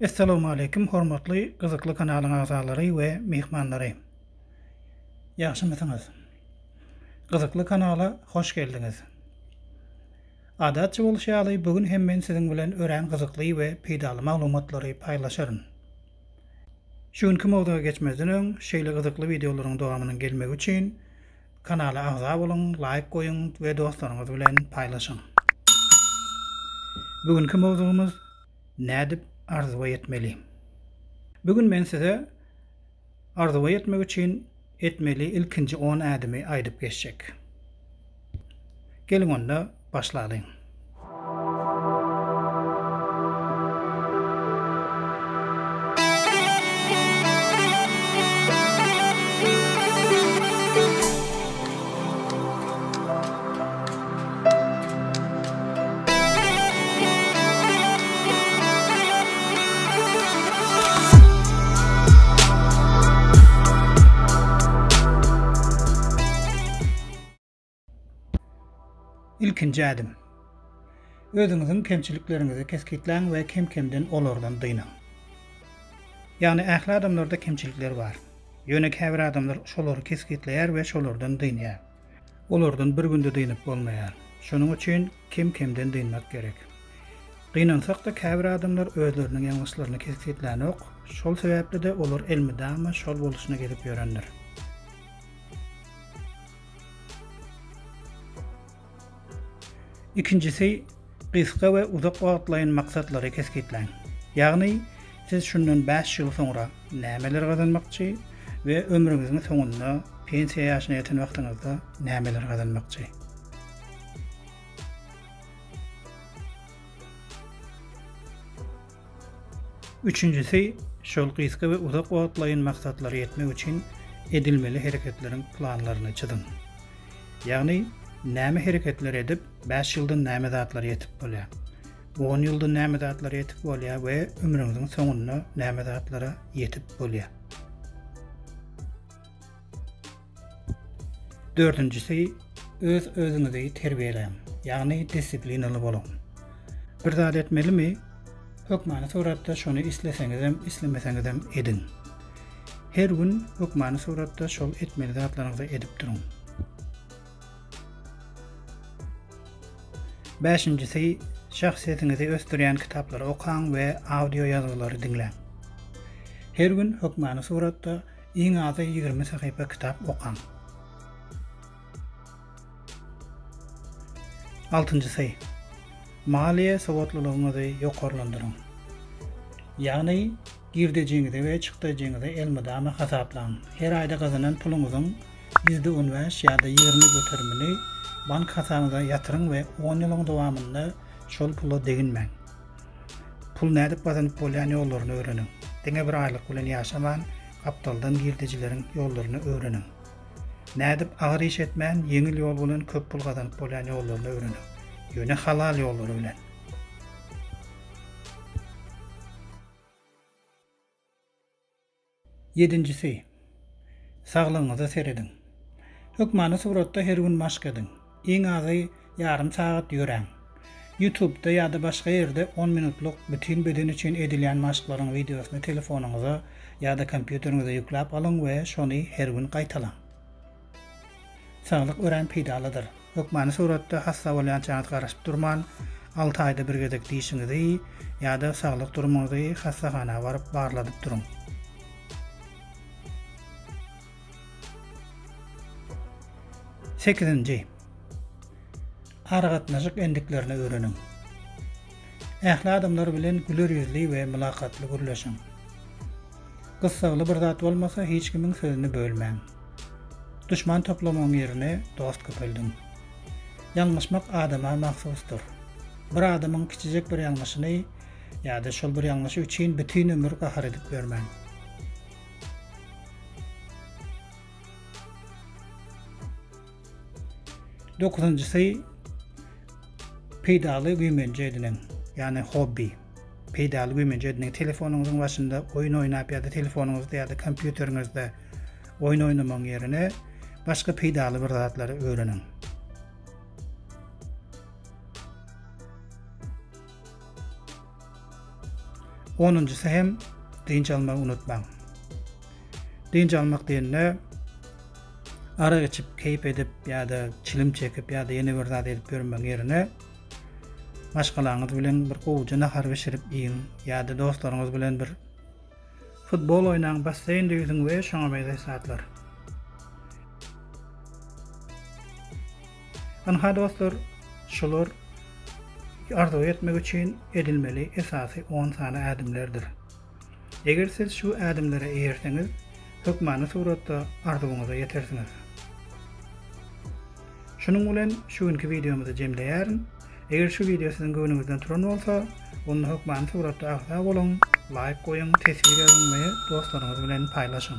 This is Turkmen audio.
Essalawmaleýkim hormatly gyzykly kanalyň agzalary we myhmanlary. Ýagşymysyňyz? Gyzykly kanala hoş geldiňiz. Adatça bolşy ýaly bu gün hem men siziň bilen örän gyzykly we peýdaly maglumatlary paýlaşaryn. Şu günki mowzuga geçmezden öň, şeýle gyzykly wideolaryň dowamynyň gelmegi üçin kanala agza boluň, laýk goýuň we dostlaryňyz bilen paýlaşyň. Bu günki mowzugymyz Nädip arzuwa ýetmeli? Bu gün men size arzuwa ýetmek üçin Etmeli ilkinji on ädimi aýdyp geçjek. Geliň onda başlalyň. Ilkinji ädim. Özüňiziň kemçilikleriňizi kesgitläň we kem-kemden olardan dynyň. Ýagny ähli adamlarda kemçilikler bar. Ýöne käbir adamlar şolary kesgitleýär we şolardan dynýar. olardan bir günde dynyp bolmaýar. Şonuň üçin kem-kemden dynmak gerek. Gynansak-da käbir adamlar özleriniň ýalňyşlaryny kesgitlänok, şol sebäpli-de olar elmydama şol boluşyna gezip ýörendir. Ikinjisi, gysga we uzak wagtlaýyn maksatlary kesgitläň. Ýagny, siz şundan bäş ýyl soňra nämeleri gazanmakçy we ömrüňiziň soňunda, pensiýa ýaşyna ýeten wagtyňyzda nämeleri gazanmakçy? Üçünjisi, şol gysga we uzak wagtlaýyn maksatlara ýetmek üçin edilmeli hereketleriň planlaryny çyzyň. Ýagny, näme hereketleri edip, bäş ýylda näme zatlara ýetip bolýar, on ýylda näme zatlara ýetip bolýar we ömrüňiziň soňunda näme zatlara ýetip bolýar. Dördünjisi, öz özüňizi terbiýeläň, ýagny disiplinaly boluň. Bir zat etmelimi? Hökmany suratda şony isleseňizem, islemeseňizem ediň. Her gün hökmany suratda şol etmeli zatlaryňyzy edip duruň. Bäşinjisi, şahsyýetiňizi ösdürýän kitaplary okaň we audio ýazgylary diňläň. Her gün hökmany suratda Iň azy ýigrimi sahypa kitap okaň. Altynjysy, maliýe sowatlylygyňyzy ýokarlandyryň. Ýagny, girdejiňizi we çykdajyňyzy elmydama hasaplaň. Her aýda gazanan puluňyzyň ýüzde on bäş ýa-da ýigrimi göterimini bank hasabyňyza ýatyryň we on ýylyň dowamynda şol pula deginmäň. Pul nädip gazanyp bolýan ýollaryny öwreniň. Diňe bir aýlyk bilen ýaşaman, gapdaldan girdejileriň ýollaryny öwreniň. Nädip agyr iş etmän, ýeňil ýol bilen köp pul gazanyp bolýan ýollaryny öwreniň. Ýöne halal ýollary bilen. Ýedinjisi, Saglygyňyza serediň. Hökmany suratda her gün maşk ediň. Iň azy ýarym sagat ýöräň. Ýutubda ýa-da başga ýerde on minutlyk bütin beden üçin edilýän maşklaryň wideosyny telefonyňyza ýa-da kompýuteriňize ýükläp alyň we şony her gün gaýtalaň. Saglyk örän peýdalydyr. Hökmany suratda hassa bolýançaňyz garaşyp durman, alty aýda bir gezek dişiňizi ýa-da saglyk durumyňyzy hassahana baryp barladyp duruň. Sekizinji. Aragatnaşyk endiklerini öwreniň. Ähli adamlar bilen güler ýüzli we mylakatly gürleşiň. Gyssagly bir zat bolmasa, hiç kimiň sözüni bölmäň. Duşman toplamagyň ýerine dost köpeldiň. Ýalňyşmak adama mahsusdyr. Bir adamyň kiçijek bir ýalňyşyny ýa-da şol bir ýalňyşy üçin bütin ömür gahar edip ýörmäň. Dokuzynjysy peýdaly güýmenje ediniň, ýagny hobby. Peýdaly güýmenje ediniň. Telefonyňyzyň başynda oýun oýnap ýa-da telefonyňyzda ýa-da kompýuteriňizde oýun oýnamagyň ýerine başga peýdaly bir zatlary öwreniň. Onunjysy hem dynç almagy unutmaň. Dynç almak diýende arak içip, keýp edip ýa-da çilim çekip ýa-da ýene bir zat edip ýörmegiň ýerine maşgalaňyz bilen bir gowuja nahar bişirip iýiň ýa-da dostlaryňyz bilen bir futbol oýnaň, basseýnde ýüzüň we şoňa meňzeş zatlar. Ynha dostlar şular arzuw etmek üçin edilmeli esasy on sany ädimlerdir. Eger siz şu ädimlere eýerseňiz, hökmany suratda arzuwyňyza ýetersiňiz. Şunuň bilen şu günki wideomyzy jemleýärin. Eger şu wideo siziň göwnüňizden turan bolsa, onda hökmany suratda agza boluň, laýk goýuň, teswir ýazyň we dostlaryňyz bilen paýlaşyň.